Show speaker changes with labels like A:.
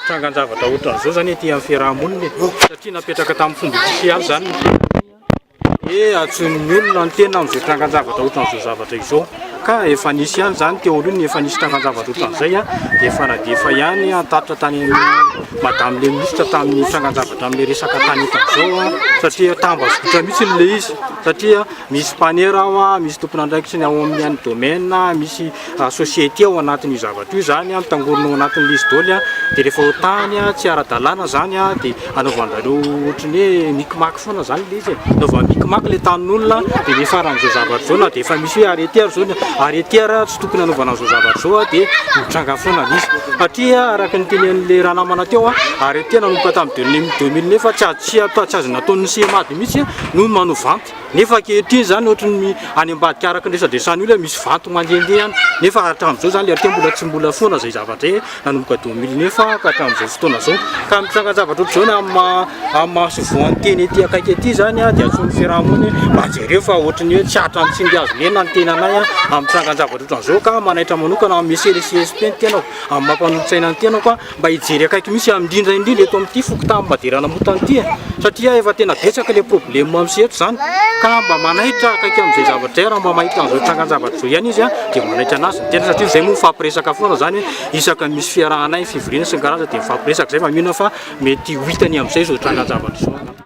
A: Nitrangan-javatra ohatran'izao izany ety amin'ny fiaraha-monina e. Satria napetraka tamin'ny fomba ofisialy izany ny fiaraha-monina. Dia antsoin'ny olona ny tena amin'izay trangan-javatra ohatran'izao zavatra izao. Ka efa nisy ihany izany teo aloha ny efa nisy trangan-javatra ohatran'izay dia efa nadefa ihany an-tatitra tany amin'ny Madame le Ministre tamin'ny trangan-javatra amin'ny resaka tany ohatran'izao satria tambazotra mihitsy ilay izy satria misy mpanera ao, misy tompon'andraikitra ny ao amin'ny domaine, misy. society ao anatin'io zavatra io izany, mitangorona ao anatin'ny lisy doly dia rehefa ho tany tsy ara-dalàna izany dia anaovan'izareo ohatry ny hoe mikimaky foana izany ilay izy e, anaovany mikimaky ilay tanin'olona dia niafaran'izao zavatra izao na dia efa misy hoe arrêté ary izao, arrêté ary tsy tokony hanaovana an'izao zavatra izao dia mitranga foana ilay izy satria araka ny tenenin'ilay ranamana teo arrêté nanomboka tamin'ny deux mille neuf tsy azo natao, tsy azo nataon'ny CMAD mihintsy no manovanty. Nefa ankehitriny izany ohatry ny any ambadika araka ny resadresan'ny olona misy vanto mandehandeha any nefa hatramin'izao izany ilay teny tsy mbola foana izay zavatra hoe nanomboka deux mille neuf ka hatramin'izao fotoana izao. Ka ny tsangan-javatra ohatr'izao na amin'ny maha amin'ny maha sovoan'ny teny ety akaiky ety izany dia antsoin'ny fiarahamonina hoe mba jereo fa ohatry ny hoe tsy hatrany tsy mby azo lena ny tenanay amin'ny tsangan-javatra ohatran'izao ka manaitra manokana amin'ny CLCSP ny tenako amin'ny maha mpanolo-tsaina ny tenako a! mba hijery akaiky mihitsy aho indrindra indrindra eto amin'ity fokontany Maderanamotana ity e, satria efa tena betsaka ilay problema misy eto izany ka mba manaitra akaiky amin'izay zavatra izay raha mba mahita an'izao trangan-javatra izao ihany izy dia manaitra an'azy ny tena satria izay moa mifampiresaka foana izany hoe isaka ny misy fiarahanay ny fivoriana sy ny karazany dia mifampiresaka izay fa mino aho fa mety ho hitany amin'izay izao trangan-javatra izao angamba.